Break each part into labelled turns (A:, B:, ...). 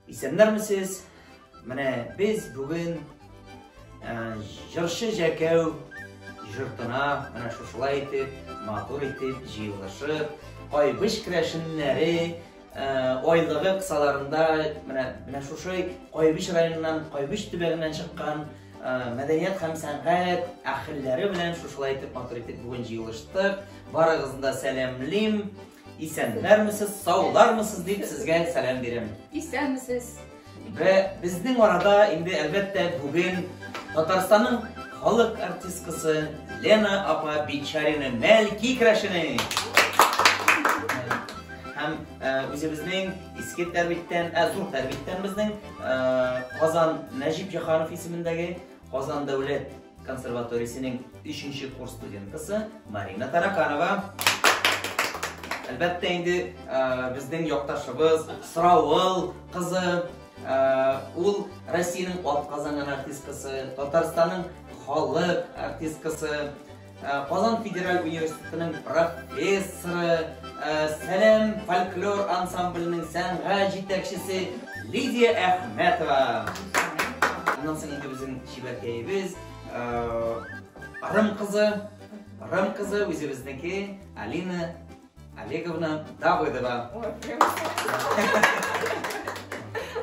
A: Исәннәрмесез? Менә без бүген ә, җырчы Җәкәү жыртына менә шушылай итеп, матур итеп, җыелышып, кайбыч керәшеннәре Ә, айлыгы кысаларында менә менә шушы Кайбыч районыннан, Кайбыч төбәгеннән чыккан Э, мәдәният һәм сәнгать әхелләре белән шушылай итеп матур итеп бүген җыелыштык. Барыгызны да сәламлим. Исәннәрмесез, саулармысыз дип сезгә сәлам бирәм. Исәнмесез.
B: Вә
A: безнең арада инде әлбәттә бүген Татарстанның халык артисткасы Лена апа Бичарина Мәлки Крашина. Һәм э, үзебезнең иске тәрбиттән, ә э, зур тәрбиттән безнең э, Казан Нәҗип Җаханов исемендәге Казан дәүләт консерваториясенең 3 курс студентысы Марина Тараканова. Әлбәттә инде безнең якташыбыз Сравыл кызы, ул Россиянең атказанган артисткасы, Татарстанның халык артисткасы, Э, Казан федераль университетының профессоры, э, Сәләм фольклор ансамбленең сәнгать җитәкчесе Лидия Әхмәтова. Аннан соң инде безнең чибәркәебез э, Рым кызы, Рым кызы үзебезнеке Алина Олеговна Давыдова.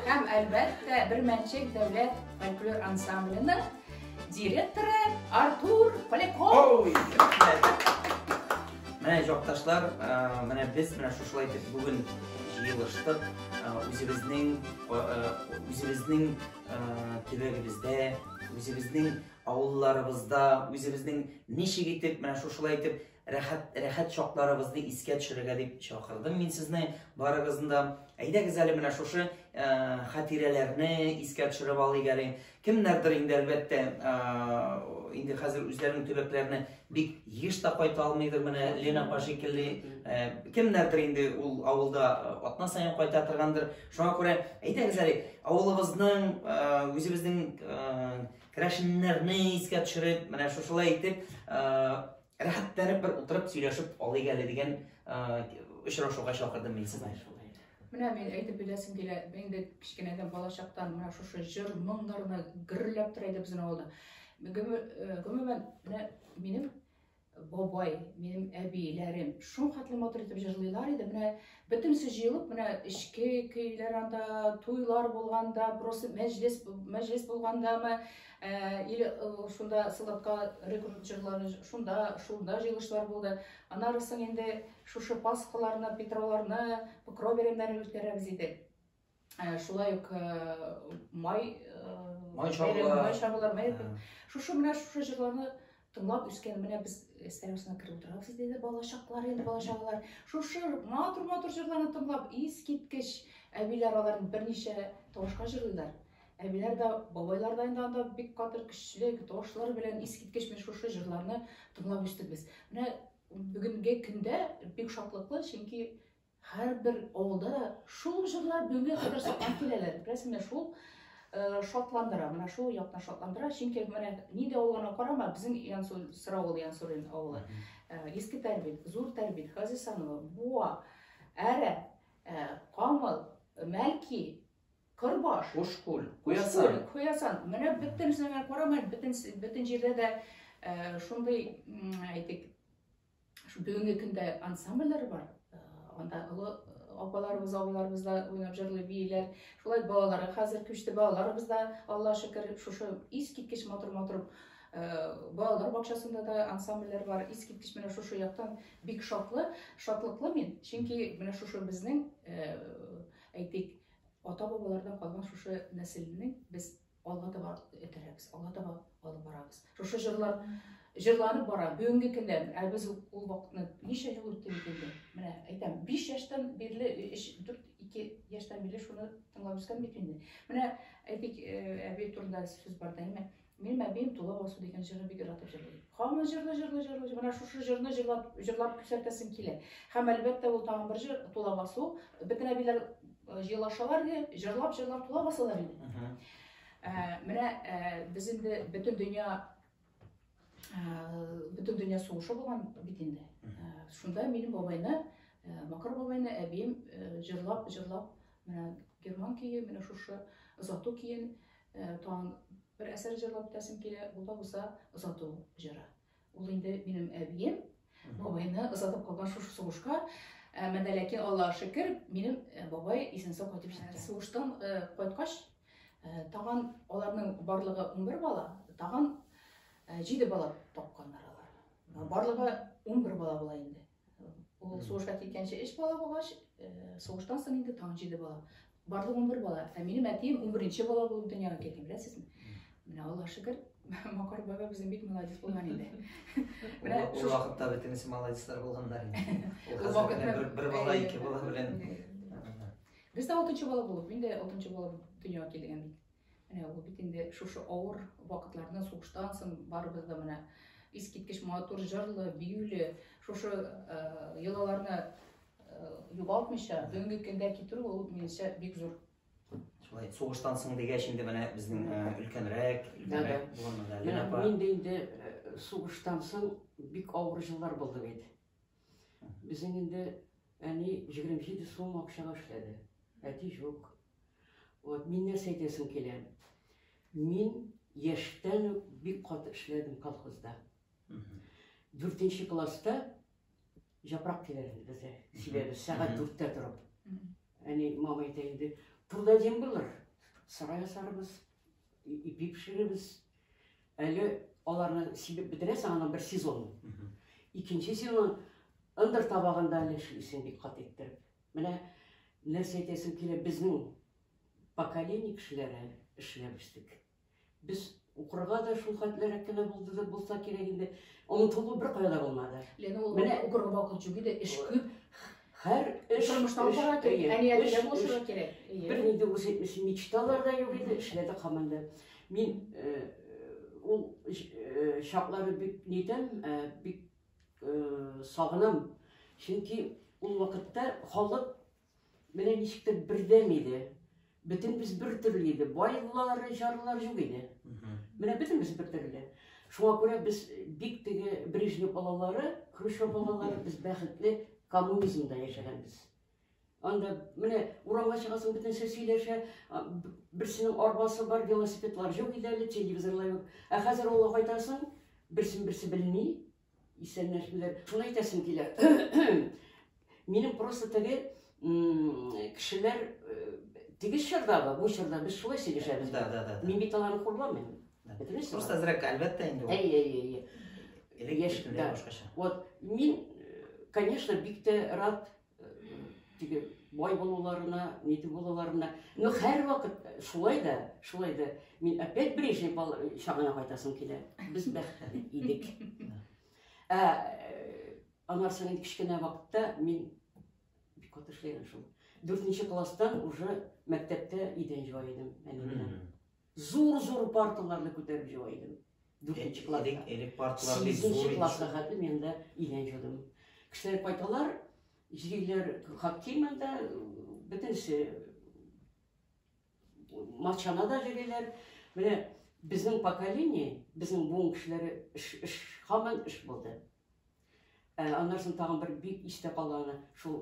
B: Һәм әлбәттә, бер мәнчек дәүләт фольклор ансамбленең директоры Артур Поляков.
A: Менә җакташлар, менә без менә шушылай итеп бүген җыелыштык. Үзебезнең үзебезнең төбәгебездә, үзебезнең авылларыбызда, үзебезнең ничек итеп менә шушылай итеп Рәхәт, рәхәт чакларыбызны искә төшерергә дип чакырдым мин сезне барыгызны да. Әйдәгез әле менә шушы ә, хатирәләрне искә төшереп алыйк әле. Кемнәрдер инде әлбәттә ә, инде хәзер үзләренең төбәкләренә бик еш та кайта алмыйдыр менә Лена апа шикелле. Ә, кемнәрдер инде ул авылда атна саен кайта торгандыр. Шуңа күрә әйдәгез әле авылыбызның, ә, үзебезнең ә, Керәшеннәрне искә төшереп, менә шушылай итеп, рәхәтләнеп бер утырып сөйләшеп алыйк әле дигән очрашуга чакырдым мин сезне. Менә мин
B: әйтеп беләсем килә, инде кечкенәдән балачактан менә шушы җыр моңнарына гөрләп тора иде безнең авылда. Гомумән, менә минем бабай, минем әбиләрем шул хәтле матур итеп җырлыйлар иде. Менә бөтенесе җыелып, менә эчке көйләр анда, туйлар булганда, просто мәҗлес мәҗлес булгандамы, э, или э, шунда Сылатка рекрут җырлары, шунда шунда җыелышлар булды. Аннары соң инде шушы Пасхаларны, Петровларны, Покров бәйрәмнәрен үткәрәбез иде. Ә, шулай ук э, май э, Май чабулар. бәйрәме, май чабулар май- Ә, шушы менә шушы җырларны тыңлап үскән менә без стенасына кереп утырабыз иде дә балачаклар инде балачаклар шушы матур матур җырларны тыңлап искиткеч әбиләр аларны берничә тавышка җырлыйлар әбиләр дә бабайлар да инде анда бик катыр көчле тавышлар белән искиткеч менә шушы җырларны тыңлап үстек без менә бүгенге көндә бик шатлыклы чөнки Һәрбер авылда шул җырлар бүгенгә кадәр сакланып киләләр. Бераз менә шул шатландыра, менә шул яктан шатландыра. Чөнки менә нидә авылына карама, безнең Янсу Сыравыл Янсурин авылы. Иске Тәрбит, Зур Тәрбит, Хазисанова, Буа, Әрә, Камыл, Мәлки, Кырбаш, Ошкул,
A: Куясан. Куясан. Менә бөтенесенә
B: карама, бөтен бөтен җирдә дә шундый, әйтик, Шул бүгенге көндә ансамбльләр бар. Э, анда олы апаларыбыз, абыларыбыз да уйнап җырлый бииләр. Шулай балалары хәзер күчте. Балаларыбыз да, Алла шөкер, шушы искиткеч матур-матур балалар бакчасында да ансамбльләр бар. Искиткеч менә шушы яктан бик шатлы, шатлыклы мин. Чөнки менә шушы безнең әйтик, ата-бабалардан калган шушы нәселне без Алга таба этәрәбез, алга таба алып барабыз. Шушы җырлар җырланып бара, бүгенге көндә, ә без ул вакытны ничә ел үтте бит инде. Менә әйтәм, 5 яшьтән бирле, 4 2 яшьтән бирле шуны тыңлап үскән бит инде. Менә әйтик, әби турында сүз бар да, әйме? Минем әбием Тула Васу дигән җырны бик яратып җырлый. Һаман җырлый, җырлый, җырлый. Менә шушы җырны җырлап, җырлап күрсәтәсем килә. Һәм әлбәттә, ул тагын бер җыр Тула Васу. Бөтен әбиләр Елашалар иде, җырлап-җырлап тула басалар иде. Менә без инде бөтен дөнья бөтен дөнья сугышы булган бит инде. Шунда минем бабайны, Макар бабайны әбием җырлап-җырлап менә герман көе, менә шушы озату көен тагын бер әсәр җырлап үтәсем килә, бу да булса озату җыры. Ул инде минем әбием, бабайны озатып калган шушы сугышка Әмәдә ләкин Аллаһ шөкер, минем э, бабай исән-сау кайтып җитте. Сугыштан э, кайткач, э, тагын аларның барлыгы 11 бала, тагын 7 бала тапканнар алар. Барлыгы 11 бала була инде. Ул сугышка киткәнче өч бала булгач, сугыштан соң инде тагын җиде бала. Барлыгы унбер бала. Ә минем әтием унберенче бала булып дөньяга килгән, беләсезме? Менә Аллаһ шөкер, Макар баба безнең бик молодец булган инде. Менә
A: шул вакытта бөтенесе молодецлар булганнар инде. Ул вакытта бер бер бала, ике бала белән.
B: Без дә алтынчы бала булып, мин дә алтынчы бала дөньяга килгән бит. Менә ул бит инде шушы авыр вакытларны сугыштан соң барыбыз да менә искиткеч матур җырлы, биюле, шушы йолаларны югалтмыйча бүгенге көндә китерү ул минемчә бик зур шулай
A: сугыштан соң дигәч инде менә безнең өлкәнрәк өлкәнрәк булганда лена апа мин дә инде
C: сугыштан соң бик авыр җыллар булды бит Безнең инде әни 27 сум акчага эшләде. Әти җук. Вот, мин нәрсә әйтәсем килә. Мин яшьтән үк бик каты эшләдем колхозда. Дүртенче класста жапрак килер инде бездә. Сибәбе сәгать дүрттә торып. Әни, мама әйтә инде, турда дем булыр. Сарай асарбыз, ипи пешеребез. Әле аларны сибеп бетерәсең, аны бер сезон. Икенче сезон ындыр табагында әле эшлисең бик кат иттереп. Менә нәрсә әйтәсем килә, безнең поколение кешеләре эшләп үстек. Без укырга да шул хәтлерәк кенә булды да булса кирәк инде. Онытылу бер кая да булмады. Ләкин ул менә укырга
B: вакыт юк иде, эш күп. Һәр
C: эш тормыштан бара кирәк. Әниятә
B: булышырга кирәк. Бер нинди үзе
C: өчен мечталар да юк иде, эшләде команда. Мин ул чаклары бик нитәм, бик сагынам. Чөнки ул вакытта халык менә ничектер бердәм иде. Бөтенбез бер төрле иде. Байлар, жарлар юк иде. Менә бөтенбез бер төрле. Шуңа күрә без бик теге Брежнев балалары, Хрущев балалары без бәхетле коммунизмда яшәгәнбез. Анда менә урамга чыгасың, бөтенесе сөйләшә, берсенең арбасы бар, велосипедлар юк иде әле, телевизорлар юк. Ә хәзер авылга кайтасың, берсен берсе белми, Исәннәшмиләр. Шуны әйтәсем килә. Минем просто теге кешеләр теге чордагы, бу чорда без шулай сөйләшәбез. Да, да, да. Мин бит аларны
A: хурлабыйм.
C: Бетермисез? Просто азрак,
A: әлбәттә инде. Әй, әй,
C: әй. Элек
A: яшь, да. Вот, мин,
C: конечно, бик тә рад теге бай булуларына, нитеп булуларына. Но һәр вакыт шулай да, шулай да мин опять Брежнев чагына кайтасым килә. Без бәхетле идек. Ә анар соң инде кечкенә вакытта мин бик каты эшләгән шул. Дүртенче класстан уже мәктәптә идән җуа идем әни белән. Зур-зур парталарны күтәреп җыла идем. Дүртенче класста. Элек парталар бик зур.
A: Сигезенче класска хәтле мин
C: дә идән җыйдым. Кешеләр кайталар, җыйлар хакки монда бөтенесе матчана да җыйлар. Менә безнең поколение, безнең буын кешеләре эш, эш, хаман эш булды. Ә, аннан соң тагын бер бик истә калганы шул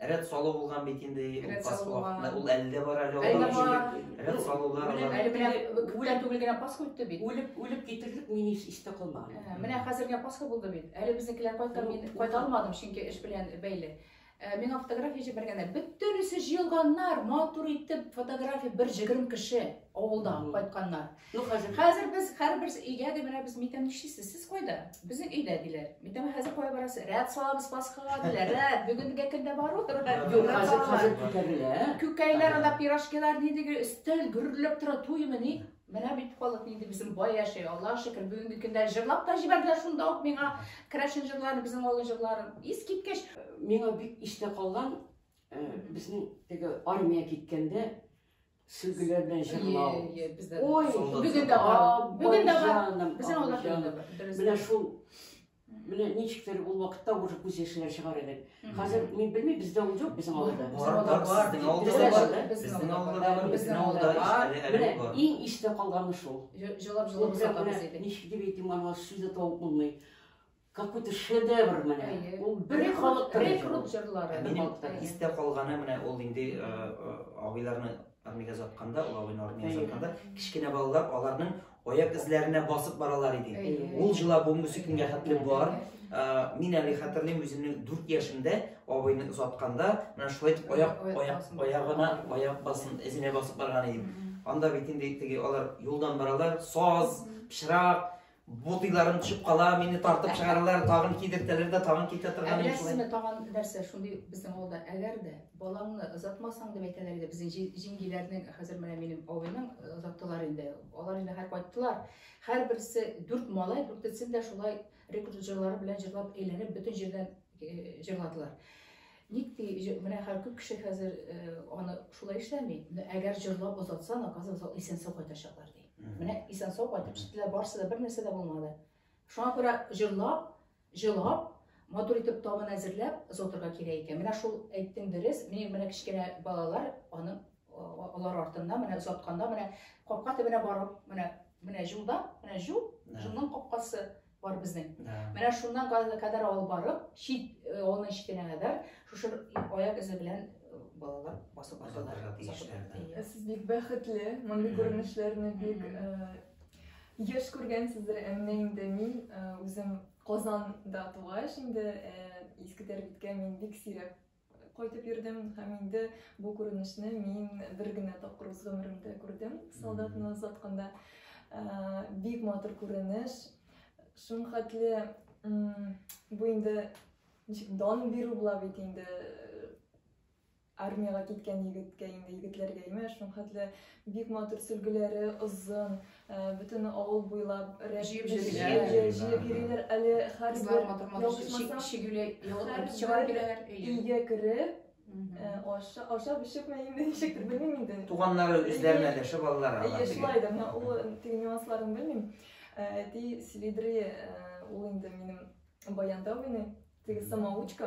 A: Рәт салу булган бит инде. Рәт салу булган. Ул әле дә бар әле. Әле бар. Рәт салулар. Әле белән
B: күптән түгел генә Пасха үтте бит. Үлеп, үлеп китердек, мин
C: еш истә калмаган. Ә, менә хәзер генә Пасха
B: булды бит. Әле безнекеләр кайткан, мин кайта алмадым, чөнки эш белән бәйле. Ә, миңа фотография җибәргәннәр. Бөтенесе җыелганнар, матур итеп фотография бер җигрем кеше авылдан кайтканнар. Ну хәзер. Хәзер
C: без һәрбер
B: өйгә дә менә без митәм нишлисез? Сез кайда? Безнең өйдә диләр. Митәм хәзер кая барасы? Рәт салабыз Пасхага диләр. Рәт бүгенге көндә бару тора. Юк, хәзер хәзер
C: күтәрелә. Күкәйләр анда
B: пирожкилар ни диге өстәл гөрләп тора туймы ни? Менә бит халык инде безнең бай яшәй. Аллаһ шөкер, бүгенге көндә җырлап та җибәрделәр шунда ук миңа керәшен җырларын, безнең авыл җырларын. Ис киткәч, миңа бик
C: истә калган, безнең теге армия киткәндә Сөлгеләр белән җырлау. Ой,
B: бүген дә
C: бар.
B: Бүген дә бар. Безнең авылда бүген дә
C: бар.
B: Менә
C: шул Менә ничектер ул вакытта уже күз яшьләр чыгар идек. Хәзер мин белмим, бездә ул юк безнең авылда. Бар, бар, бар. Безнең авылда бар.
A: Безнең авылда бар. Безнең авылда бар. Менә
C: иң истә
A: калганы
C: шул. Җылап җылап сатабыз
B: идек.
C: Ничек дип
B: әйтим, аны
C: сүз дә табып булмый. какой-то шедевр менә. Ул бер халык рекрут җырлары.
B: Минем истә
A: калганы менә ул инде э, э, абыйларны армиягә затканда, ул абыйны армиягә затканда, кечкенә балалар аларның аяк эзләренә басып баралар иде. Ул җыла бу музыкага хәтле бар. Э, мин әле хәтерлим үземнең 4 яшемдә абыйны затканда, менә шулай дип аяк аяк аягына аяк басын эзенә басып барган идем. Анда бит инде теге алар юлдан баралар, саз, пычрак, Ботыйларым төшеп кала, мине тартып чыгаралар, тагын кидертәләр дә, тагын китә торган. Беләсезме, тагын нәрсә
B: шундый безнең авылда, әгәр дә балаңны озатмасаң дип әйтәләр иде безнең җиңгиләрнең, хәзер менә минем абыйның э, озаттылар инде. Алар инде һәр кайттылар. Һәрберсе дүрт малай, дүртесен дә шулай рекрутерлары белән җырлап әйләнеп бөтен җирдән э, җырладылар. Ник ди, җы, менә хәр күп кеше хәзер э, аны шулай эшләми. Менә Әгәр җырлап озатсаң, оказывается, ул исән-сау кайтачаклар ди. Менә исән-сау кайтып чыктылар, барысы да бер нәрсә дә булмады. Шуңа күрә җырлап, җылап, матур итеп табын әзерләп озатырга кирәк икән. Менә шул әйттең дөрес. Менә менә кечкенә балалар аны а- алар артыннан менә озатканда менә капка төбенә барып, менә менә җулда, менә җул, Нә. җулның капкасы. бар безнең да. менә шуннан газына кадәр алып барып чит э, авылның читенә кадәр шушы аяк эзе белән э, балалар басып бардылар ә сез
D: бик бәхетле мондый күренешләрне бик еш күргәнсездер әмма инде мин үзем казанда тугач инде иске тәрбиткә мин бик сирәк Кайтып йөрдем һәм инде бу күренешне мин бер генә тапкыр үз гомеремдә күрдем. Солдатны озатканда э, бик матур күренеш. Шуң хәтле бу инде ничек дан бирү була бит инде э, армиягә киткән егеткә инде егетләргә имеш. Шуң хәтле Бик матур сөлгеләре озын, бөтен авыл буйлап җыеп йөриләр. Әле хәрбер ялгышмасам, өйгә кереп, ашап эчеп мә инде ничектер белмим инде. Туганнары үзләренә
A: дәшеп алалар. Әйе, шулайдыр. Менә ул
D: теге нюансларын белмим. Әти Селидри ул инде минем баянда уйный, теге самоучка.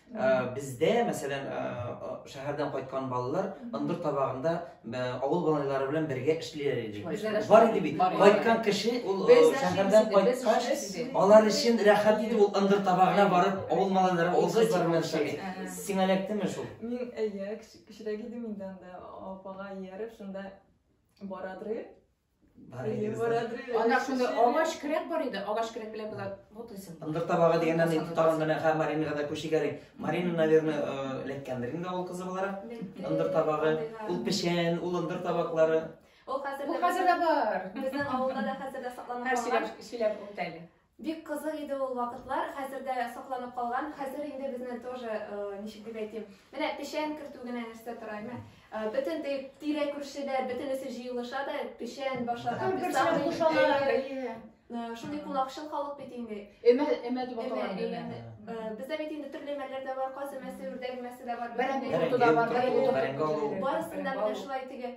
A: Бездә, мәсәлән, шәһәрдән кайткан балалар ындыр табагында авыл балалары белән бергә эшлиләр иде. Бар иде бит. Кайткан кеше ул шәһәрдән кайткач, алар өчен рәхәт иде ул ындыр табагына барып, авыл малайлары, авыл кызлары белән эшләми. Сиңа эләктеме шул? Мин, әйе,
D: кечерәк идем инде анда, апага ияреп, шунда барадыр. Ана
B: шунда агач кирәк бар иде, агач кирәк белән болар вот исем. Ындыр табагы дигәннән ни
A: тагын менә һәм Маринага да күши гәри. Марина, наверное, э, ләккәндер инде ул кызы буларак. Ындыр табагы, ул печән, ул ындыр табаклары. Ул хәзер дә бар.
E: Безнең авылда да хәзер
B: дә сакланып
E: калган. Һәр сөйләп, сөйләп
B: үтәле. Бик кызык иде
E: ул вакытлар, хәзер дә сакланып калган. Хәзер инде безне тоже, э, ничек дип әйтим, менә печән кертү генә нәрсә тора, әмма э, бөтен тирә күршедә бөтенесе җыелыша да печән башата Э, шундый кунакчыл халык бит инде өмә өмә дип аталган
B: бездә бит
E: инде төрле өмәләр дә бар каз өмәсе үрдәк өмәсе дә бар барысында менә шулай теге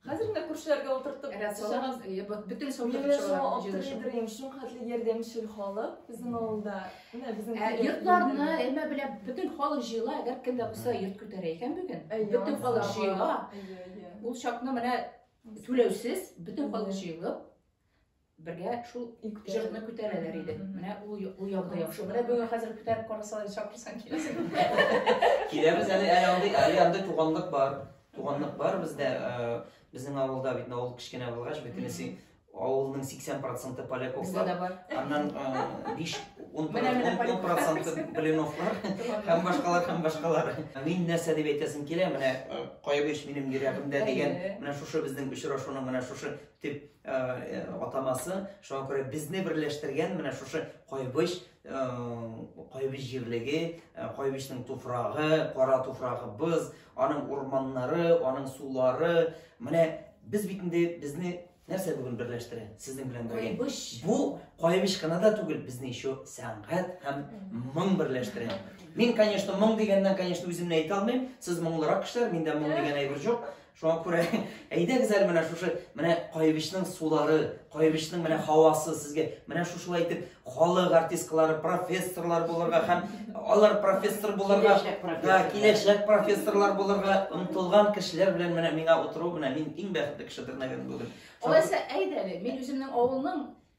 D: Хәзер менә күршеләргә утыртып Рәт салам. Бөтен
B: сәүдә Мин
D: шул хәтле ярдәмчел халык безнең авылда. Менә безнең ә, йортларны әмә
B: белә бөтен халык җыела, әгәр кемдә булса йорт күтәрә икән бүген. Бөтен халык җыела. Ул чакны менә түләүсез бөтен халык җыелып бергә шул җырны күтәрәләр иде. Менә ул ул ягы яхшы. Менә бүген хәзер күтәреп
A: карасалар, чакырсаң киләсең. Киләбез әле, әле андый, әле андый туганлык бар. Туганлык бар бездә. Безнең авылда бит авыл кечкенә булгач, бөтенесе авылның 80% поляк оклар. Аннан 5 10%
B: блиновлар
A: һәм башкалар һәм башкалар. Мин нәрсә дип әйтәсем килә, менә кайбыч минем йөрәгемдә дигән, менә шушы безнең очрашуның менә шушы дип атамасы. Шуңа күрә безне берләштергән менә шушы Кайбыч, Кайбыч җирлеге, Кайбычның туфрагы, кара туфрагыбыз, аның урманнары, аның сулары. Менә без бит инде безне нәрсә бүген берләштерә сезнең белән бергә кайбыш бу кайбыш кына да түгел безне еще сәнгать һәм моң берләштерә мин конечно моң дигәннән конечно үземне әйтә алмыйм сез моңлырак кешеләр миндә моң дигән әйбер юк Шуңа күрә әйдәгез әле менә шушы менә Кайбычның сулары, Кайбычның менә һавасы сезгә менә шушылай итеп халык артисткалары, профессорлар булырга һәм алар профессор булырга, да, киләчәк профессорлар булырга омтылган кешеләр белән менә миңа утыру менә мин иң бәхетле кешедер, наверное, бүген. Алайса әйдә әле,
B: мин үземнең авылның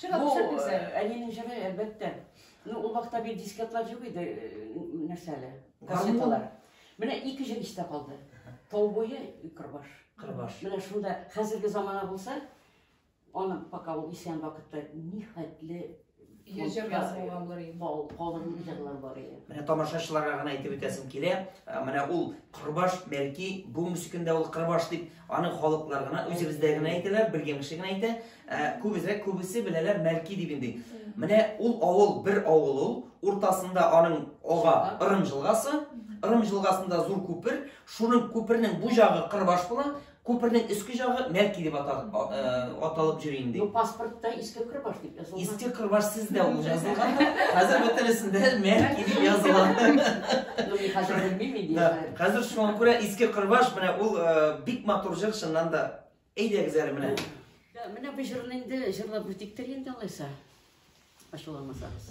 C: Чыга Бу төшәк
B: үзәк. э,
C: әнинең җыры,
B: әлбәттә.
C: Ну, ул вакытта бит дискетлар юк иде, э, нәрсә әле, кассеталар. Менә ике җыр истә калды. Тау буе, Кырбаш. Кырбаш. Менә
A: шунда хәзерге
C: замана булса, аны пока ул исән вакытта нихәтле Йөз җыр
B: фондта, язылган булыр инде. кал- калын җырлар
C: бар иде. Менә тамашачыларга
A: гына әйтеп үтәсем килә. Ә, Менә ул Кырбаш, бәлки, бүгенге көндә ул Кырбаш дип Аны халыклар гына, үзебездә генә әйтәләр, белгән кеше генә әйтә. Ә күбезрәк күбесе беләләр Мәлки дип инде. Менә ул авыл, бер авыл ул, уртасында аның ага Ырым җылгасы, Ырым җылгасында зур күпер, шуның күпернең бу җагы Кырбаш була, күпернең өске җагы Мәлки дип аталып, аталып йөри инде. Бу паспортта иске
C: Кырбаш дип Иске Кырбаш сез дә
A: ул язылган. Хәзер бөтенесендә мәк дип языла.
C: Хәзер шуңа күрә
A: Иске Кырбаш менә ул бик матур җыр чыннан да. Әйдәгез әле менә. Менә бу
C: җырны инде җырлап үтиктер инде алайса. Ачуламасагыз.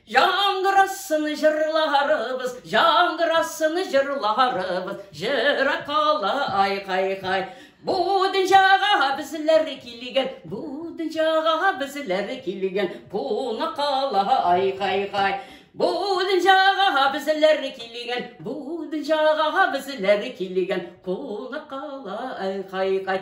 C: Яңгырасын җырларыбыз, яңгырасын җырларыбыз, җыра кала ай хай хай. Бу дөньяга безләр килгән, бу дөньяга безләр килгән, куна кала ай хай хай. Бу дөньяга безләр килгән, бу дөньяга безләр килгән, куна кала ай хай хай.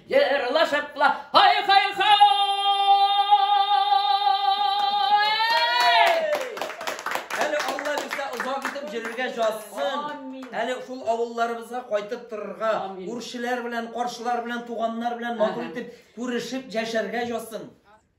C: Җырла шартла, хай хай хай!
A: Әле Алла безгә озак итеп җөрергә җазсын. Әле шул авылларыбызга кайтып торырга, күршеләр белән, каршылар белән, туганнар белән матур итеп күрешеп яшәргә җазсын.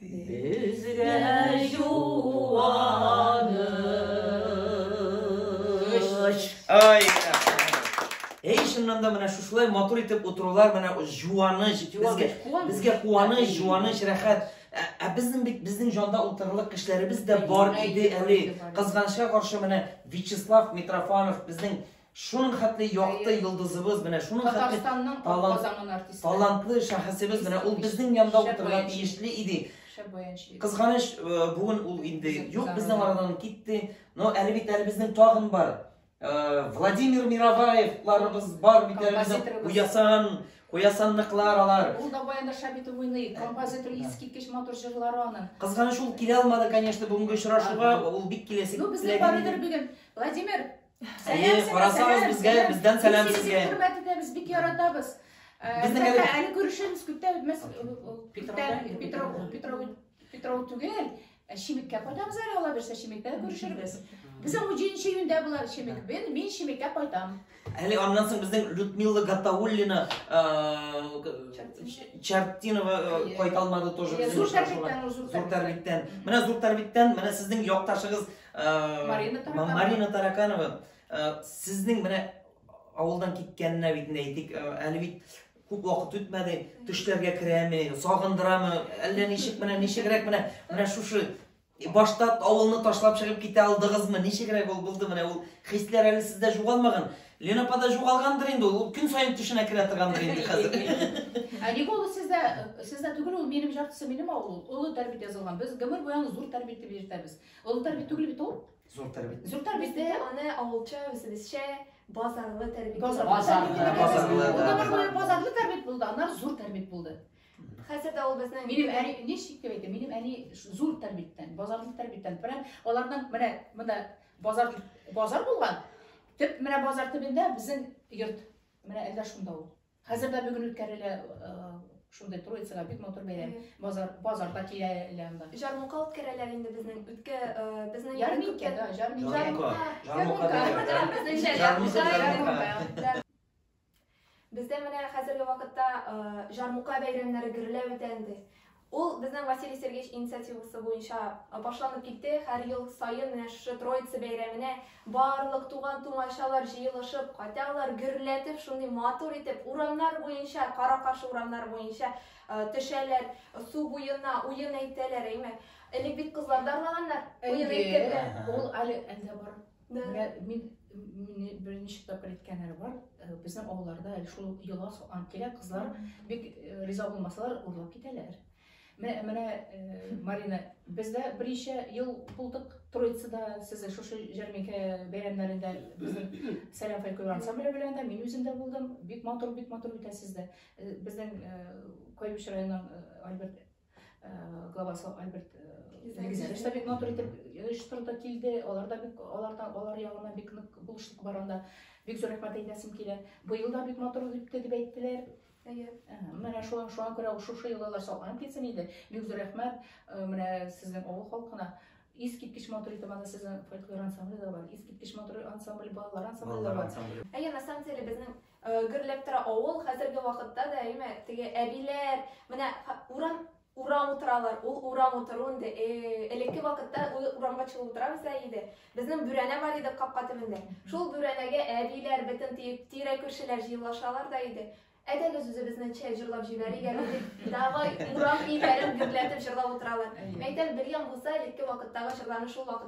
C: Безгә юаныч.
A: Ай. Эй, чыннан да менә шушылай матур итеп утырулар менә жуаныч. Безгә безгә куаныч, жуаныч, рәхәт. Ә, ә безнең бит безнең җанда утырырлык кешеләребез дә бар иде әле. Кызганычка каршы менә Вячеслав Митрофанов безнең Шуның хәтле якты йолдызыбыз менә, шуның хәтле талант, талантлы шәхесебез менә, ул безнең янда утырырга тиешле иде. Кызганыч, э, бүген ул инде юк безнең арадан китте, но әле бит әле безнең тагын бар. Э, Владимир Мироваевларыбыз бар бит әле безнең уясан, Куясанныклар алар. Ул да баянда шабит
B: уйный, композитор искиткеч матур җырлары аның. Кызганыч ул килә алмады,
A: конечно, бүгенге очрашуга, ул бик киләсе. Ну, без барыдыр
B: бүген. Владимир, Әйе,
A: карасагыз безгә, бездән сәлам сезгә. Хөрмәт итәбез, бик
B: яратабыз. Безнең әле әле күрешәбез күптә без Петров Петров Петров түгел, ә Шимеккә кайтабыз әле ала берсә Шимеккә күрешербез. Безнең уҗенче июньдә булар Шимек. Мен мин Шимеккә кайтам. Әле аннан соң
A: безнең Людмила Гатауллина Чартинова кайта алмады тоже. Зур тәрбиттән, зур тәрбиттән. Менә зур тәрбиттән, менә сезнең якташыгыз Марина Тараканова. Марина Тараканова, сезнең менә авылдан киткәненә бит әйтик, әле бит күп вакыт үтмәде, төшләргә керәме, сагындырамы, әллә ничек менә ничегрәк менә менә шушы башта авылны ташлап чыгып китә алдыгызмы? Ничегрәк ул булды менә ул хисләр әле сездә жугалмаган. Лена пада жугалгандыр инде ул, көн саен төшенә керә торгандыр инде хәзер. Ә ник ул
B: сездә сездә түгел ул минем жартысы минем авыл ул. Олы Тәрбит язылган. Без гомер буе аны зур Тәрбит дип йөртәбез. Олытар бит түгел бит ул. Зур тәрбит. Зур
A: тәрбит. Бездә аны
B: авылча,
E: үзебезчә базарлы тәрбит. Базарлы. Базарлы. Базарлы.
B: Базарлы тәрбит булды, аннары зур тәрбит булды. Хәзер дә ул
E: безнең Минем әни ничек дип
B: әйтә? Минем әни зур тәрбиттән, базарлы тәрбиттән. Прям аларның менә монда базар базар булган. Төп менә базар төбендә безнең йорт. Менә әллә шунда ул. Хәзер дә бүген үткәрелә э, шундый Троицага бик матур бәйрәм. Базар базарда киләләр анда. Җармука үткәрәләр
E: инде безнең үткә э, безнең Ярминкә да,
B: җарминкә.
A: Җармука. Җармука. Безнеңчә
E: җармука. Бездә менә хәзерге вакытта э, җармука бәйрәмнәре гөрләп үтә инде. Ул безнең Василий Сергеевич инициативасы буенча башланып китте. Һәр ел саен менә шушы Троица бәйрәменә барлык туган-тумачалар җыелышып кайталар, гөрләтеп, шундый матур итеп урамнар буенча, кара-каршы урамнар буенча төшәләр, су буена уен әйтәләр, әйме. Элек бит кызлар да арлаганнар, уен әйткәндә. Ул әле әлдә
B: бар. Да. Менә мин мине беренче тапкыр әйткәннәр бар, э, безнең авылларда әле шул йола суган килә, кызлар бик э, риза булмасалар, урлап китәләр. Менә, менә э, Марина, бездә берничә ел булдык Троицада, сез дә шушы җәрминкә бәйрәмнәрендә безнең Сәлам фольклор ансамбле белән дә, мин үзем дә булдым. Бик матур, бик матур үтә сездә. Э, Безнең э, Кайбыч районының э, Альберт Э, главасы Альберт Легизәр э, штабик натур итеп оештырды э, килде. Алар да бик аларда алар ягына бик нык булышлык бар анда. Бик зур рәхмәт әйтәсем килә. Быел да бик матур үтте дип әйттеләр. Әйе. Менә шуңа шуңа күрә шушы еллар салган килсен иде. Бик зур рәхмәт менә сезнең авыл халкына. Искиткеч матур итеп анда сезнең фольклор ансамбле дә бар. Искиткеч матур ансамбль, балалар ансамбле дә бар. Әйе, на самом деле
E: безнең Гөрләп тора авыл, хәзерге вакытта да, әйме, теге әбиләр, менә урам урам утыралар, ул урам утыру инде. Элекке вакытта урамга чыгып утырабыз да иде. Безнең бүрәнә бар иде капка төбендә. Шул бүрәнәгә әбиләр, бөтен тирә күршеләр җыелашалар да иде. Әдәгез үзебезне чәй җырлап җибәрик әле дип, давай урам бийләрен гөрләтеп җырлап утыралар. Мәйтәм, бер ян булса, элекке вакыттагы җырларны шул вакыт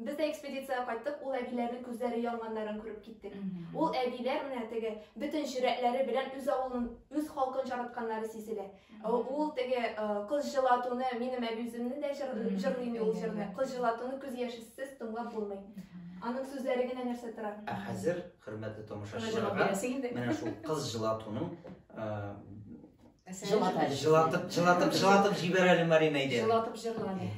E: Без дә экспедициягә кайттык, ул әбиләрнең күзләре янганнарын күреп киттек. Ул әбиләр менә теге бөтен чирәтләре белән үз авылын, үз халкын чаратканнары сизелә. Ул теге кыз җылатуны, минем әби үземне дә җырлый инде ул җырны. Кыз җылатуны күз яшесез тыңлап булмый. Аның сүзләре генә нәрсә тора. Ә хәзер, хөрмәтле
A: тамашачыларга, менә шул кыз җылатуның җылатып, җылатып, җылатып җибәр әле, Марина, әйдә. Җылатып җырла әле.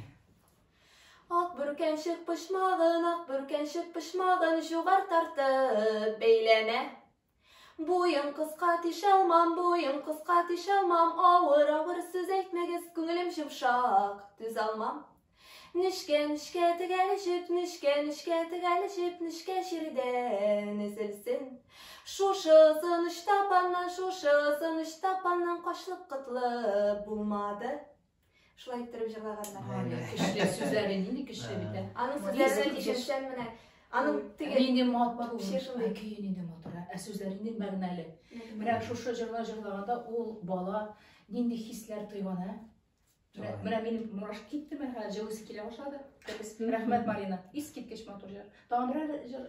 E: Ак бүркәнчек почмагын, ак бүркәнчек почмагын җугар тартып бәйләмә. Буен кыска тишалмам, буен кыска тишалмам, авыр, авыр сүз әйтмәгез, күңелем җомшак, түз алмам. Нечкә, нечкә тегәл җеп, нечкә, нечкә тегәл җеп, нечкә җирдән өзелсен. Шушы озын оч тапаннан, шушы озын оч тапаннан кашлык кытлык булмады. Шулай иттереп җырлаганнар. Һай, көчле сүзләре
B: нинди көчле бит. Аның сүзләренә
E: тишелсәң менә аның теге нинди матур. Вообще
B: шундый көе нинди матур, ә сүзләре нинди мәгънәле. Менә шушы җырлар җырлаганда ул бала нинди хисләр тойган, ә? Менә минем мурашка китте, менә җылысы килә башлады. Рәхмәт, Марина. Искиткеч матур җыр. Тагын берәр җыр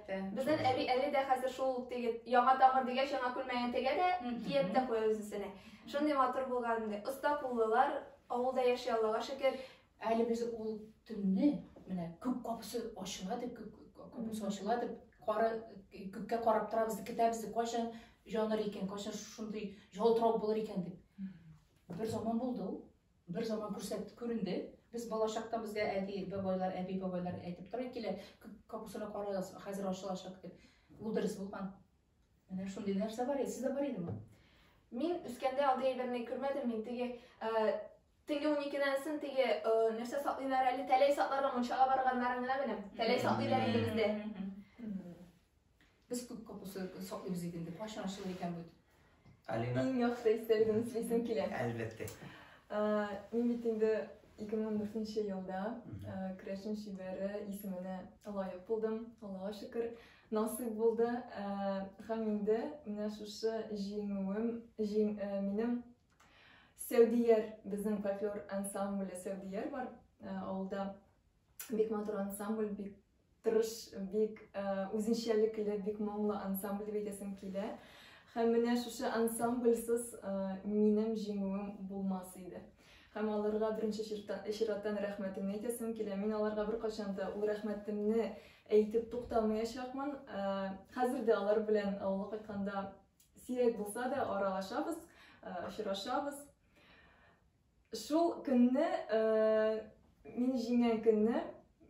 E: Безнен
B: әби әле дә
E: хәзер шул ук теге яңа тамыр дигәч яңа күлмәген тегә дә киеп тә куя үзенсенә. Шундый матур булган инде. Оста куллылар, авылда яши Аллага шөкер. Әле без ул
B: төнне менә күк капысы ачыла дип, күк капысы ачыла дип, кары күккә карап торабыз дип китәбез дип, кайчан җаныр икән, кайчан шундый ялтырау булыр икән дип. Бер заман булды ул. Бер заман күрсәт күренде. Без балачактан безгә әти бабайлар, әби бабайлар әйтеп тора килә, капусаны карагыз, хәзер ачылачак дип. Ул дөрес булган. Менә шундый нәрсә бар иде, сездә бар идеме? Мин
E: үскәндә андый әйберне күрмәдем, мин теге теге уникедән соң теге нәрсә саклыйлар әле, тәләй сакларга мунчага барганнарын гына беләм. Тәләй саклыйлар иде бездә. Без
B: күп капусы саклыйбыз бит инде. Кайчан ачылыр икән бу? Алина. Иң
A: яхшы истәлегемне
D: сөйлисем килә. Әлбәттә. Мин бит инде 2014 елда Крәшен шибәре исеменә лаек булдым. Аллага шөкер, насыйп булды. Һәм инде менә шушы җиңүем, минем Сәүдияр, безнең фольклор ансамбле Сәүдияр бар авылда. Бик матур ансамбль, бик Тырыш, бик үзенчәлекле, бик моңлы ансамбль дип әйтәсем килә. Һәм менә шушы ансамбльсыз минем җиңүем булмас иде. Һәм аларга беренче чираттан рәхмәтемне әйтәсем килә. Мин аларга беркайчан да ул рәхмәтемне әйтеп туктамаячакмын. Хәзер дә алар белән авылга кайтканда сирәк булса да аралашабыз, очрашабыз. Шул көнне, мин җиңгән көнне,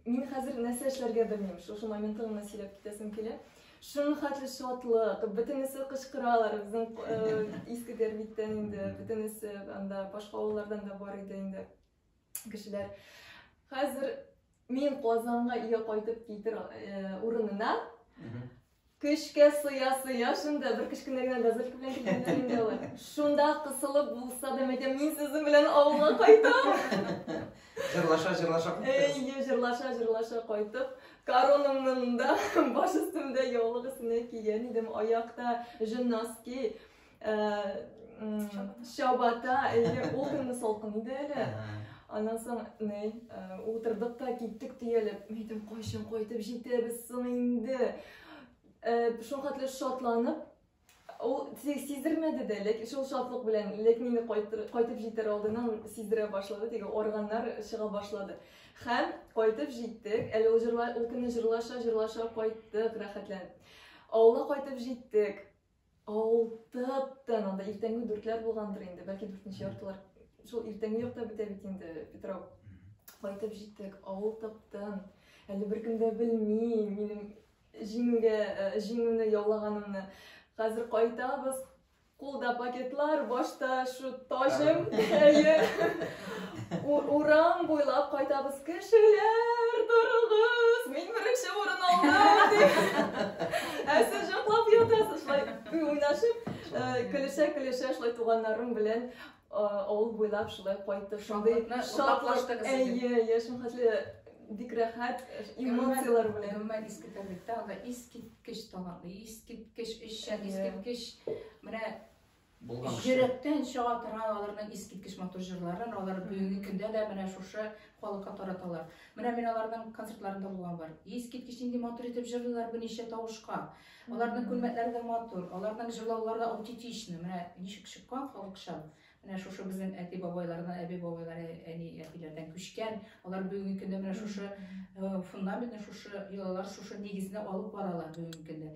D: мин хәзер нәрсә эшләргә белмим, шушы моментны гына сөйләп китәсем килә. Шуның хәтле шатлык, бөтенесе кычкыралар, безнең иске Дәрбиттән инде, бөтенесе анда башка авыллардан да бар иде инде кешеләр. Хәзер мин Казанга өйгә кайтып китер урынына, Көчкә сыя-сыя шунда, бер кечкенә генә газелька белән килгәннәр инде алар. Шунда кысылып булса да, мәйтәм, мин сезнең белән авылга кайтам. Җырлаша, җырлаша кайттыгыз. Әйе, җырлаша, җырлаша кайтып, коронамны монда баш өстемдә яулык өстенә кигән идем, аякта жиннаски. чабата әле ул көнне салкын иде әле аннан соң ни утырдык та киттек төялеп мин әйтәм кайчан кайтып җитәбез соң инде шулхәтле шатланып ул сиздермәде дә ләкин шул шатлык белән ләкин инде кайтып җитәр алдыннан сиздерә башлады теге органнар чыга башлады һәм кайтып җиттек әле ул җырла ул көнне җырлаша җырлаша кайттык рәхәтләнеп авылга кайтып җиттек Алтып тын, анда иртәнге дүртләр булгандыр инде, бәлки дүртенче яртылар. Шул иртәнге якта бетә бит инде Петров. Кайтып җиттек, авыл тып-тын. Әле беркем дә белми минем җиңүгә, э, җиңүне яулаганымны. Хәзер кайтабыз, кулда пакетлар, башта шу таҗым, әйе. Урам буйлап кайтабыз кешеләр, торыгыз, мин беренче урын алдым дип. Ә сез җаклап ятасыз, шулай уйнашып, көлешә-көлешә шулай туганнарым белән авыл буйлап шулай кайтып, шундый шатлык, әйе, әйе, шундый бик рәхәт эмоцияләр белән. Гомумән иске тәбиктә
B: анда искиткеч талантлы, искиткеч эшчән, искиткеч менә булган Йөрәктән чыга торган аларның искиткеч матур җырларын алар бүгенге көндә дә менә шушы халыкка тараталар. Менә мин аларның концертларында булган бар. Искиткеч нинди матур итеп җырлыйлар бу ничә тавышка. Аларның күлмәкләре дә матур, аларның җырлаулары да аутентичны. Менә ничек чыккан халыкча. Менә шушы безнең әти бабайлардан, әби бабайлар, әни әтиләрдән күчкән. Алар бүгенге көндә менә шушы э, фундаментны, шушы йолалар, шушы нигезне алып баралар бүгенге көндә.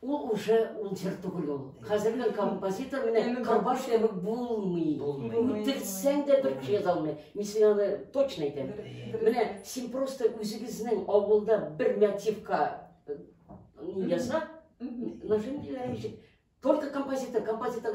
C: Ул уже ун җыр түгел ул. Хәзерге композитор менә Кырбаш кебек булмый. Үтерсәң дә бер кеше яза алмый. Мин сиңа аны точно әйтәм. Менә син просто үзегезнең авылда бер мотивка э, яса, нажим диләр ничек? Только композитор, композитор.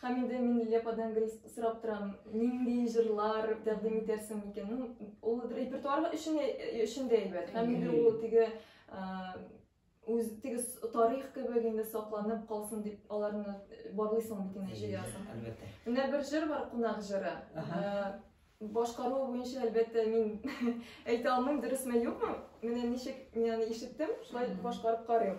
D: Һәм инде мин Лилия ападан гел сорап торам, нинди җырлар тәкъдим итәрсең микән? Ну, ул репертуар өчен өчен дә әйбәт. Һәм инде ул теге үз теге тарих кебек инде сакланып калсын дип аларны барлыйсың бит инде җыясың. Әлбәттә. Менә бер
A: җыр бар,
D: кунак җыры. Башкару буенча әлбәттә мин әйтә алмыйм, дөресме юкмы? Менә ничек мин аны ишеттем, шулай башкарып карыйм.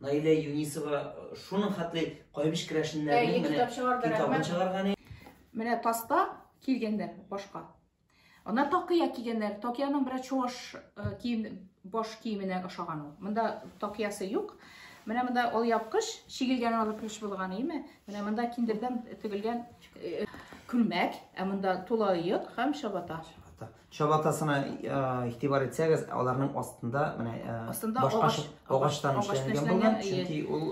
A: Наилә Юнисова шуның хәтле кайбыч керәшеннәрнең менә китап чыгарды, китабын чыгарган. Менә таспа
B: килгәннәр башка. Ана такыя кигәннәр. Такияның бер чуаш кием баш киеменә ошаган ул. Монда такиясы юк. Менә монда ул япкыч, чигелгән алып килеш булган, име? Менә монда киндердән тегелгән күлмәк, ә монда тулаек һәм чабата. Чабата. Чабатасына
A: игътибар итсәгез, аларның астында менә астында агач агачтан эшләнгән булган, чөнки ул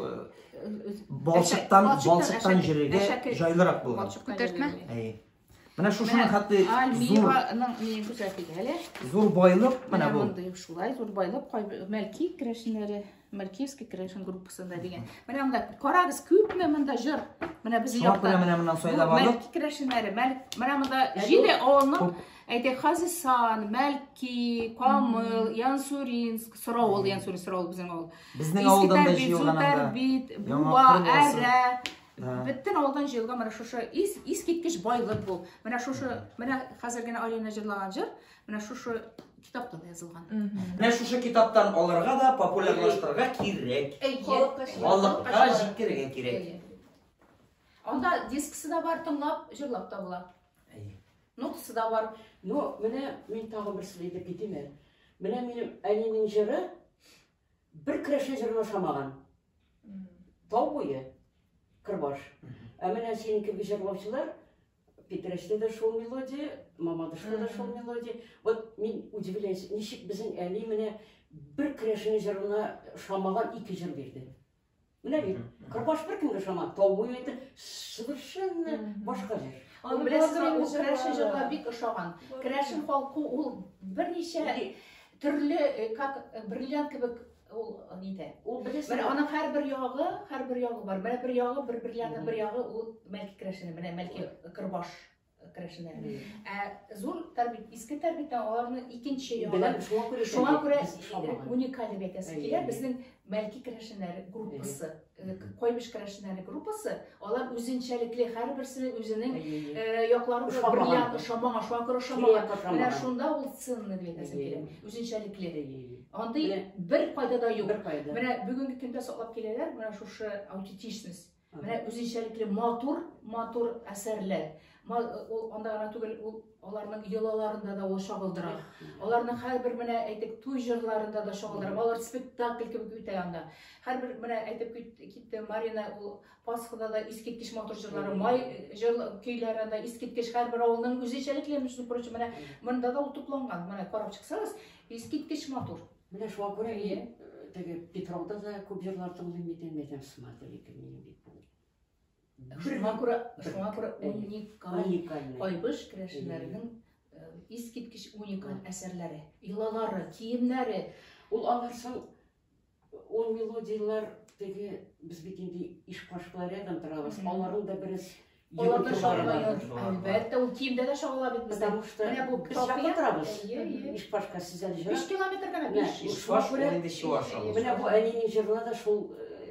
A: балчыктан балчыктан җөрергә җайлырак булган. Күтәртмә. Әйе.
B: Менә
A: шушының хәтте зур миен күрсәтик әле. Зур байлык менә бу. Мондый шулай зур байлык,
B: мәлки керәшеннәре. Менә Киевский Крешин группасында дигән. Менә монда карагыз, күпме монда җыр. Менә без якта. Шуңа күрә менә моннан сайда бардык.
A: Мәлки Крешиннәре, Мәлк,
B: менә монда җиде авылның әйтә Хазисан, Мәлки, Камыл, Янсуринск, Сыравыл, Янсурин Сыравыл безнең авыл. Безнең авылдан да
A: җыелган анда. Бит, Буа,
B: Әрә, Бөтен авылдан җыелган менә шушы ис, искиткеч байлык бу. Менә шушы, менә хәзер генә Алина җырлаган җыр, Менә шушы китапта да язылган. Менә шушы
A: китаптан алырга да популярлаштырырга кирәк. Халыкка җиткерергә кирәк.
B: Анда дисксы да бар, тыңлап, җырлап та була. Нотасы да бар. Но менә
C: мин тагын бер сүз әйтеп китим әле. Менә минем әнинең җыры бер керәшен җырына ошамаган. Тау буе, Кырбаш. Ә менә синең кебек җырлаучылар Питрәчтә дә шул мелодия, Мамадышта да шул мелодия. Вот мин удивляюсь, ничек безнең әни менә бер керәшенең җырына шамаган ике җыр бирде. Менә бит, Кырбаш бер кемгә шамаган, тау буе әйтә, совершенно башка җыр. Аны беләсез,
B: ул керәшен җырга бик ошаган. Керәшен халкы ул берничә төрле, э, как э, бриллиант кебек ул нидә? Ул беләсез. Менә аның һәрбер ягы, һәрбер ягы бар. Менә бер ягы, бер бер ягы, бер ягы ул мәлки крәшене, менә мәлки кырбаш крәшене. Ә зур тәрбит, иске тәрбиттән аларны икенче ягы. Беләм, шуңа күрә шуңа күрә уникаль дип әйтәсе килә безнең мәлки крәшеннәр группасы. Койбиш керәшеннәре группасы, алар үзенчәлекле, һәрберсенең үзенең яклары белән бриллиант ошамаган, шуңа күрә ошамаган. Менә шунда ул ценны дип әйтәсем Үзенчәлекле. Андый бер кайда да юк. Менә бүгенге көндә саклап киләләр, менә шушы аутентичность. Менә үзенчәлекле матур, матур әсәрләр. Ул анда гына түгел, ул Аларның йолаларында да ул чагылдыра. Аларның һәрбер менә әйтеп туй җырларында да чагылдыра. Алар спектакль кебек үтә анда. Һәрбер менә әйтеп китте Марина ул Пасхада да искиткеч матур җырлары, май җыр көйләре анда искиткеч һәрбер авылның үзенчәлекле, между прочим, менә монда да ул тупланган. Менә карап чыксагыз, искиткеч матур. Менә шуңа күрә мин
C: теге Петровда да күп җырлар тыңлыйм бит инде, әйтәм, смотри, кем минем бит бу. Шуңа
B: күрә, шуңа күрә уникаль, уникаль кайбыш керәшеннәренең э, искиткеч уникаль әсәрләре, йолалары, киемнәре. Ул алар
C: соң ул мелодияләр теге без бит инде иш кашкалар рядом торабыз. Аларның да бераз Алар
B: да шагыла
C: Әлбәттә, ул
B: киемдә дә шагыла бит. Потому что менә бу без якын
C: торабыз. Иш кашка
B: сез әле җырлап.
C: 5 километр генә 5. Иш
B: кашка
C: инде
B: чуаш.
A: Менә бу әнинең җырына
C: да шул э,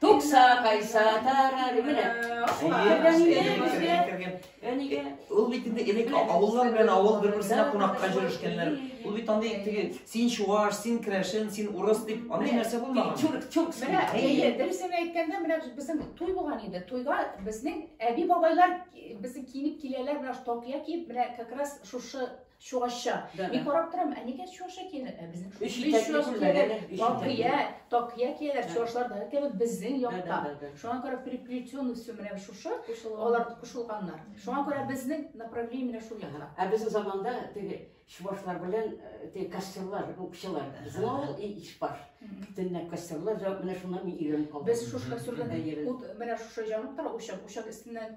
C: Тукса кайса тарар менә. Ул бит инде
A: элек авыллар белән авыл бер-берсенә кунакка җөрешкәннәр. Ул бит андый теге син чуаш, син крәшен, син урыс дип андый нәрсә булмаган. Чурк, чурк. Менә
C: әйе, дөресен
B: әйткәндә менә безнең туй булган инде. Туйга безнең әби бабайлар безнең киенеп киләләр, менә токия киеп, менә как раз шушы Чуашча. Да, Мин да. карап торам, ә нигә чуашча киенә? Ә безнең Өч без итәкле чуаш күлмәк, киенә. әнә, өч Такия, итәкле. такия кияләр Да. чуашларда, әлбәттә бит безнең Да, да, якта. да, да. Шуңа күрә приплетенный все менә шушы, алар кушылганнар. Шуңа күрә безнең направление менә шул якта. Ә безнең заманда
C: теге чувашлар белән э, теге костерлар, укчылар. Безнең авыл и- ишбаш. Мгм. Төнлә костерлар, җа- менә шуннан мин өйрәнеп калдым. Без шушы костерлардан Әйе.
B: ут менә шушы җанып тора учак, учак өстеннән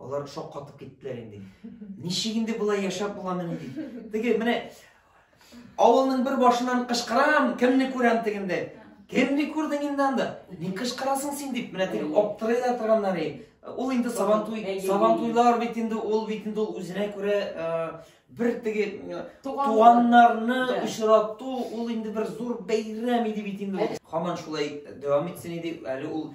A: Алар шаккатып киттеләр инде. Ничек инде болай яшәп буламыни дип. Теге менә авылның бер башыннан кычкырам, кемне күрәм тегендә. Кемне күрдең инде анда? Ни кычкырасың син дип, менә теге аптырый да торганнар инде. Ул инде сабантуй, сабантуйлар бит инде ул бит инде ул үзенә күрә бер теге туганнарны очрату, ул инде бер зур бәйрәм иде бит инде. Хаман шулай дәвам итсен иде, әле ул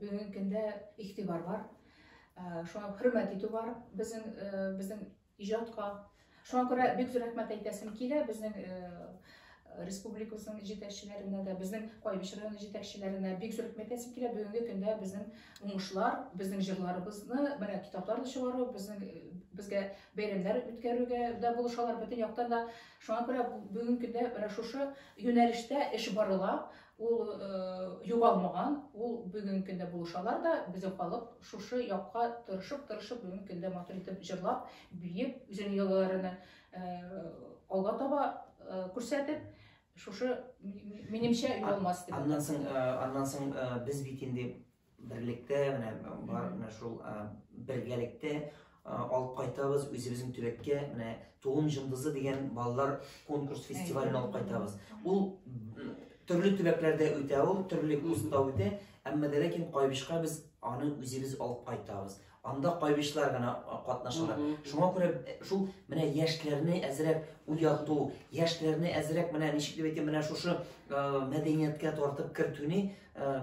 B: Бүгенге көндә игътибар бар. Шуңа хөрмәт итү бар безнең безнең иҗатка. Шуңа күрә бик зур рәхмәт әйтәсем килә безнең республикабызның җитәкчеләренә дә, безнең Кайбыч районы җитәкчеләренә бик зур рәхмәт әйтәсем килә. Бүгенге көндә безнең уңышлар, безнең җырларыбызны менә китаплар да чыгару, безнең безгә бәйрәмнәр үткәрүгә дә булышалар бөтен яктан да. Шуңа күрә бүгенге көндә менә шушы юнәлештә эш барыла. Ул э, югалмаган, ул бүгенге көндә булышалар да, безнең халык шушы якка тырышып-тырышып бүгенге көндә матур итеп җырлап, биеп, үзенең йолаларыны э, алга таба э, күрсәтеп, шушы минемчә югалмас дип. Аннан соң, э, аннан соң
A: э, без бит инде Берлектә менә бар менә шул бергәлектә алып кайтабыз үзебезнең төбәккә менә туым җындызы дигән балалар конкурс фестивален алып кайтабыз ул төрле төбәкләрдә үтә ул төрле курста үтә әмма дә ләкин кайбышка без аны үзебез алып кайтабыз Анда кайбычлар гына катнашалар. Шуңа күрә шул менә яшьләрне әзрәк уяту, яшьләрне әзрәк менә ничек дип әйтим, менә шушы мәдәнияткә тартып кертүне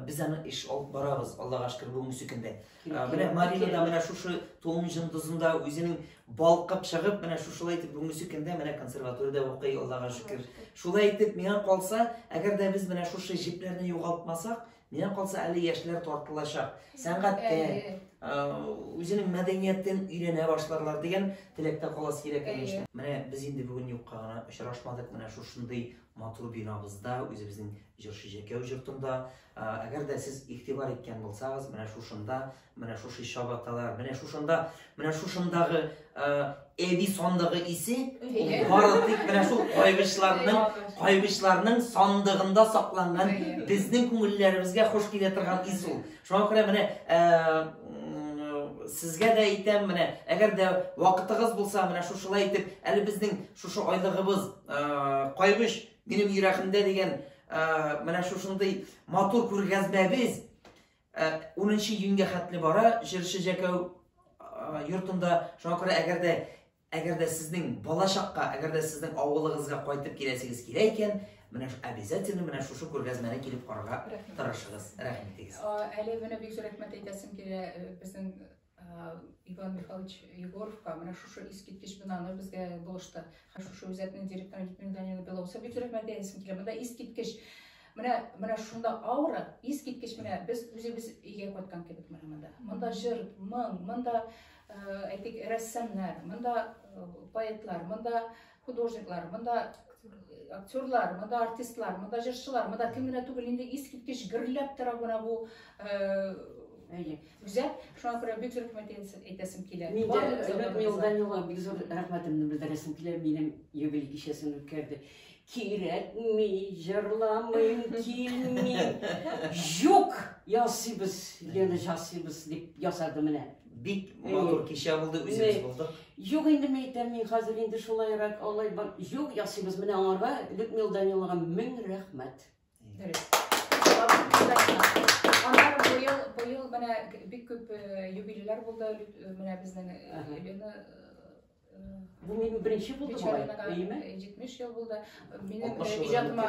A: без аны эш алып барабыз, Аллага шөкер, бүгенге сөкендә. Менә Марина да менә шушы тулым җындызында үзенең балкып чыгып, менә шушылай итеп бүгенге сөкендә менә консерваториядә укый, Аллага шөкер. Шулай итеп миңа калса, әгәр дә без менә шушы җепләрне югалтмасак, Миңа калса әле яшьләр тартылачак. Сәнгатьтә, үзенең мәдәниятен өйрәнә башларлар дигән теләктә калас кирәк әйе менә без инде бүген юкка гына очрашмадык менә шушындый матур бинабызда үзебезнең җырчы җәкәү җортында әгәр дә сез игътибар иткән булсагыз менә шушында Менә шушы чабаталар, менә шушында, менә шушындагы әби сандыгы исе бары тик менә шул кайгычларның, кайгычларның сандыгында сакланган безнең күңелләребезгә хуш килә торган ис ул. Шуңа күрә менә сезгә дә әйтәм, менә әгәр дә вакытыгыз булса, менә шушылай итеп, әле безнең шушы айлыгыбыз кайгыч минем йөрәгемдә дигән менә шушындый матур күргәзмәбез Ә, унынчы июньгә хәтле бара, җырчы Җәкәү йортында шуңа күрә әгәр дә әгәр дә сезнең балачакка, әгәр дә сезнең авылыгызга кайтып киләсегез килә икән, менә обязательно менә шушы күргәзмәне килеп карарга тырышыгыз. Рәхмәт итегез. Әле менә бик зур
B: рәхмәт әйтәсем килә э, безнең Иван Михайлович Егоровка менә шушы искиткеч бинаны безгә булышты. Һәм шушы үзәкнең директоры Людмила Даниловна Белоусова бик рәхмәт әйтәсем килә. Монда искиткеч менә менә шунда аура искиткеч менә без үзебез өйгә кайткан кебек менә монда. Монда җыр, моң, монда әйтик рәссамнар, монда поэтлар, монда художниклар, монда актерлар, монда артистлар, монда җырчылар, монда кем генә түгел, инде искиткеч гөрләп тора менә бу Үзәк, шуңа күрә бик зур рәхмәт әйтәсем килә. Мин дә Өлек
C: Милданилга бик зур рәхмәтемне белдерәсем килә, минем юбилей кичәсен үткәрде. Кирәкми, җырламыйм, килми. Юк, ясыйбыз, Лена, ясыйбыз дип ясады менә. Бик матур
A: кичә булды, үзебез булдык. Юк инде мин әйтәм,
C: мин хәзер инде шулайрак алай бар. Юк, ясыйбыз. Менә аңарга Людмила Даниловага мең рәхмәт.
B: Дөрес. Аннары быел, быел менә бик күп юбилейлар булды. Менә безнең Елена
C: Бу минем беренче булды болай, әйеме? 70 ел
B: булды. Минем иҗатыма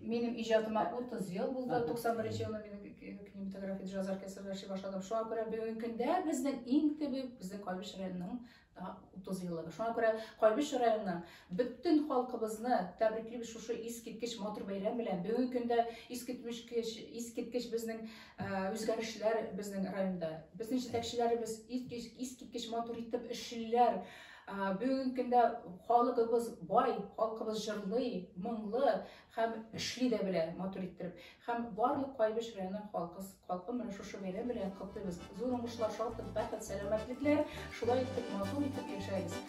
B: минем иҗатыма 30 ел булды. 91 елны мин кинематография җазар кесәләр эшли башладым. Шуңа күрә бүгенге көндә безнең иң төбе безнең Кайбыч районының 30 еллыгы. Шуңа күрә Кайбыч районының бөтен халкыбызны тәбриклибез шушы искиткеч матур бәйрәм белән. Бүгенге көндә искиткеч искиткеч безнең үзгәрешләр безнең районда. Безнең җитәкчеләребез искиткеч матур итеп эшлиләр. Бүгенге көндә халкыбыз бай, халкыбыз җырлый, моңлы һәм эшли дә белә матур иттереп. Һәм барлык Кайбыч районы халкы халкы менә шушы бәйрәм белән котлыйбыз. Зур уңышлар, шатлык, бәхет, сәламәтлекләр. Шулай итеп матур итеп яшәгез.